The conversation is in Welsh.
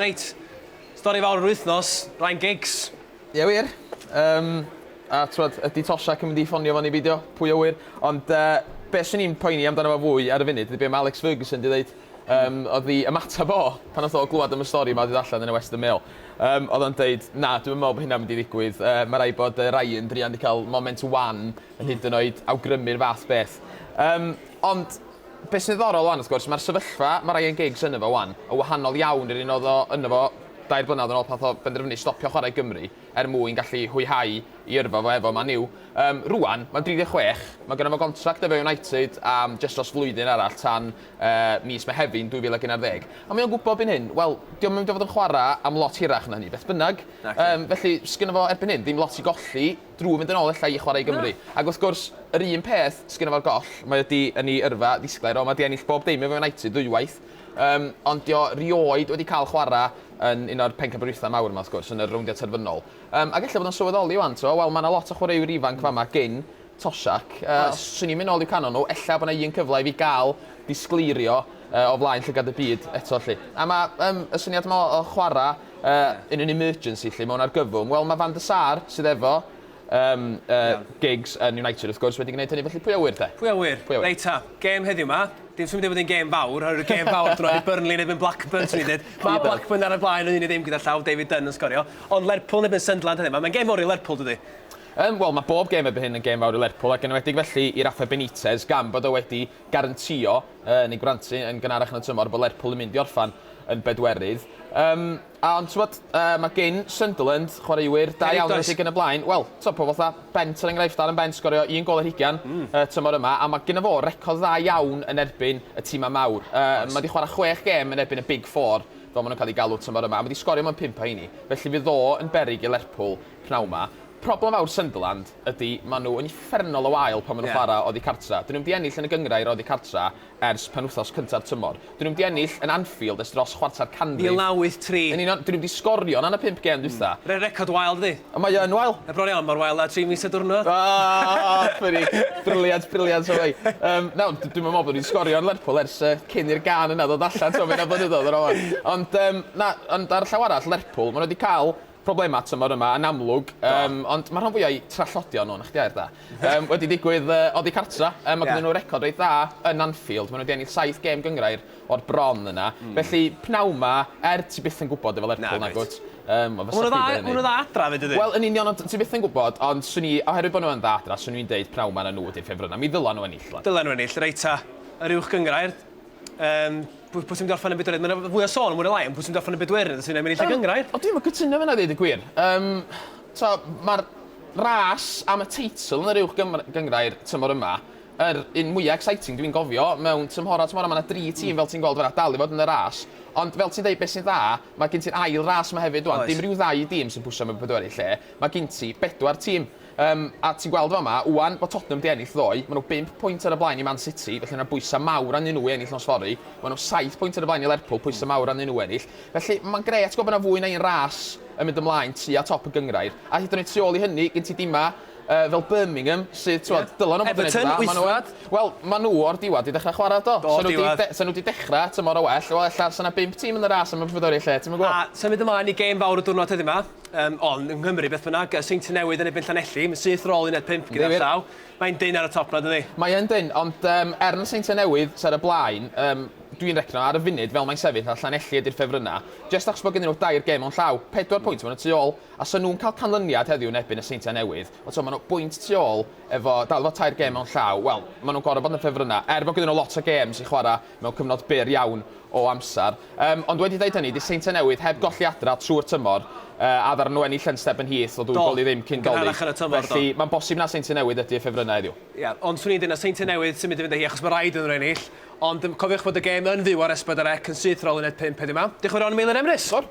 Reit, stori fawr yr wythnos, Ryan Giggs. Ie wir, yym a t'mod ydi Toshack yn mynd i ffonio fo neu beidio, pwy a ŵyr. Ond yy be' swn i'n poeni amdano fo fwy ar y funud ydi be' ma' Alex Ferguson 'di ddeud. Yym o'dd 'i ymateb o pan nath o glwad am y stori 'ma 'di dod allan yn y Western Mail yym o'dd o'n deud na dwi'm yn me'wl bo' hynna'n mynd i ddigwydd yy ma' raid bod yy Ryan druan 'di ca'l moment wan yn hyd yn oed awgrymu'r fath beth. Yym ond Be' sy'n ddiddorol 'wan wrth gwrs, ma'r sefyllfa ma' Ryan Giggs yno fo 'wan yn wahanol iawn i'r un o'dd o yno fo dair blynadd yn ôl pan nath o benderfynu stopio chwarae i Gymru er mwyn gallu hwyhau 'i yrfa fo efo Man U. Yym, rŵan, mae'n 36, ma' gynno fo gontract efo United am jyst dros flwyddyn arall tan yy mis Mehefin 2011. A mae o'n gwbo erbyn hyn, wel, 'di o'm yn mynd i fod yn chwara am lot hirach na hynny beth bynnag. Naci. Yym, felly, sgynno fo erbyn hyn ddim lot i golli. drwy fynd yn ôl ella i chwarae i Gymru. Ac wrth gwrs, yr un peth sy gynno fo'r goll, mae o 'di yn ei yrfa ddisglair o, mae 'di ennill bob dim efo United ddwywaith, yym, ond 'di o rioed wedi cael chwarae yn un o'r pencampwriaethau mawr yma wrth gwrs, yn y rowndiau terfynol. Yym, ac ella bod o'n sylweddoli wan, t'mo', wel, mae yna lot o chwaraewyr ifanc fama gin Toshack, yy, os swn i'n mynd ôl i'w canol nhw, ella bod yna un cyfle i fi gael disgleirio yy o flaen llygad y byd eto 'lly. A mae yym y syniad yma o chwarae Yy in an emergency 'lly mewn argyfwng. Wel ma' Van der Sar sydd efo yym yy Iawn. gigs yn United wrth gwrs wedi gneud hynny felly pwy a ŵyr 'te? Pwy a ŵyr? Pwy a ŵyr? Reit 'ta, gêm heddiw 'ma, dim symud i fod yn gêm fawr oherwydd y gêm fawr drodd i Burnley yn erbyn Blackburn swn i'n deud. Ma' Blackburn ar y blaen yn un i ddim gyda llaw, David Dunn yn sgorio. Ond Lerpwl yn erbyn Sunderland heddiw 'ma, mae'n gêm fowr i Lerpwl dydi? Yym wel ma' bob gêm erbyn hyn yn gêm fawr i Lerpwl ac yn enwedig felly i Rafa Benitez gan bod o wedi garantio, neu grantu, yn gynharach yn y tymor bod Lerpwl yn mynd i orffen yn bedwerydd. Yym, a ond t'mod, yy, mae gin Sunderland chwaraewyr da iawn yn y lle yn y blaen. Wel, t'mod, pobl fatha Bent er enghraifft, Darren Bent sgorio un gol ar hugain y tymor yma, a mae gynno fo record dda iawn yn erbyn y timau mawr. Yy, mae 'di chwarae chwech gêm yn erbyn y Big Four, fel maen nhw'n cael eu galw tymor yma, a mae 'di sgorio mewn pump o heini. Felly fydd o yn beryg i Lerpwl p'nawn 'ma. Problem fawr Sunderland ydy, maen nhw yn uffernol o wael pan maen nhw'n chwarae oddi cartra'. Dyn nhw'm 'di ennill yn y gynghrair oddi cartra' ers penwythnos cynta'r tymor. Dyn nhw'm 'di ennill yn Anfield ers dros chwarter canrif. Mil naw wyth tri. Yn union, dyn nhw'm 'di sgorio yn y pump gêm dwytha'. Re- record wael dydi? O mae yn wael. Mae bron iawn mor wael â tri mis a diwrnod. Aw! Funny. Brilliant, brilliant o Wei. Yym, nawr, d- dwi'm yn meddwl bod ni'n sgorio yn Lerpwl ers yy cyn i'r gân yna ddod allan, t'mo' ma' hynna'n blynyddoedd yn ôl 'wan. Ond yym, na, ond ar y llaw arall, Lerpwl, maen nhw 'di cael Problemau tymor yma yn amlwg, yym, ond mae'r rhan fwyaf o'u trallodion nhw, 'na chdi air da, yym, wedi digwydd oddi cartra'. Yym, mae ganddyn nhw record reit dda yn Anfield, maen nhw wedi ennill saith gêm gynghrair o'r bron yna. Felly, pnawn 'ma, er ti byth yn gwybod efo Lerpwl, nagwyt? Yym, ond fysa chdi 'di ennill. Maen nhw'n dda adra 'fyd, dydyn? Wel, yn union, ond ti byth yn gwybod, ond 'swn i, oherwydd bod nhw yn dda adra, 'swn i'n deud pnawn 'ma na nhw ydi'r ffefrynnau. Mi ddylen nhw ennill, 'wan. Dylen nhw ennill. Reit ta, yr uwch gynghrair. Um, pwy, pwy sy'n gorffen yn bedwerydd? Mae'n fwy o sôn, mwy o lai, ond pwy sy'n gorffen yn bedwerydd? Os yw'n mynd i lle um, gyngrair? O, dwi'n cytuno fyna, dweud y gwir. Um, so, Mae'r ras am y teitl yn yr uwch gyngrair tymor yma yr un mwyaf exciting dwi'n gofio mewn tymhora tymhora mae yna dri hmm. tîm fel ti'n gweld fanna dal i fod yn y ras ond fel ti'n dweud beth sy'n dda mae gen ti'r ail ras yma hefyd dwi'n dim rhyw ddau dîm sy'n pwysio mewn pedwerydd lle mae gen ti bedwar tîm Yym, a ti'n gweld yn fama, 'wan, bod Tottenham 'di ennill ddoe, ma' nhw bump pwynt ar y blaen i Man City, felly mae'r bwysau mawr arnyn nhw i ennill nos fory. Ma' nhw saith pwynt ar y blaen i Lerpwl, pwysau mawr arnyn nhw ennill. Felly, mae'n grêt gweld bod 'na fwy na un ras yn mynd ymlaen tua top y gynghrair. A hyd yn oed tu ôl i hynny, gen ti dimau yy fel Birmingham, sydd, t'wod, dyla nhw fod yn neud yn dda. Everton, wythfed. Wel, ma' nhw o'r diwedd 'di dechrau chwarae, do. Do, diwedd. Sa nhw 'di dechrau tymor yn well, wel, ella 'sa 'na bump tîm yn y ras am y Pencampwriaeth Lle, ti'm yn gwbod? A, symud ymlaen i gêm fawr y diwrnod heddiw 'ma. Um, ond yng Nghymru, beth bynnag, Seinti Newydd yn ebyn Llanelli, mae'n syth rôl uned 5 gyda llaw. Mae'n dyn ar y top na, dydy? Mae'n dyn, ond um, er na Seinti Newydd sy'n ar y blaen, um, dwi'n recno ar y funud fel mae'n sefyll a Llanelli ydy'r ffefrynnau, jes achos bod gen nhw dair gem o'n llaw, pedwar mm. pwynt maen nhw tu ôl, a sy'n nhw'n cael canlyniad heddiw yn ebyn y Seintiau Newydd, ond so, maen nhw bwynt tu ôl efo, dal efo tair gem o'n llaw, wel, maen nhw'n gorau bod yn ffefrynnau, er bod gen nhw lot o gems i chwarae, mewn cyfnod byr iawn o amser. Yym, ond wedi deud hynny, 'di Seintiau Newydd heb golli adra trwy'r tymor, yy, a ddaru nhw ennill yn Step yn Heath o ddwy gol i ddim cyn 'Dolig'. Do, gynharach yn y tymor, do. Felly, mae'n bosib na Seintiau Newydd ydy y ffefrynnau heddiw. Ie, ond 'swn i'n deud na Seintiau Newydd sy'n mynd i fynd â hi, achos mae rhaid iddyn nhw ennill. Ond cofiwch bod y gêm yn fyw ar S4C yn syth ar ôl uned pump heddiw 'ma. Diolch yn fawr iawn i Meilir Emrys. Siŵr.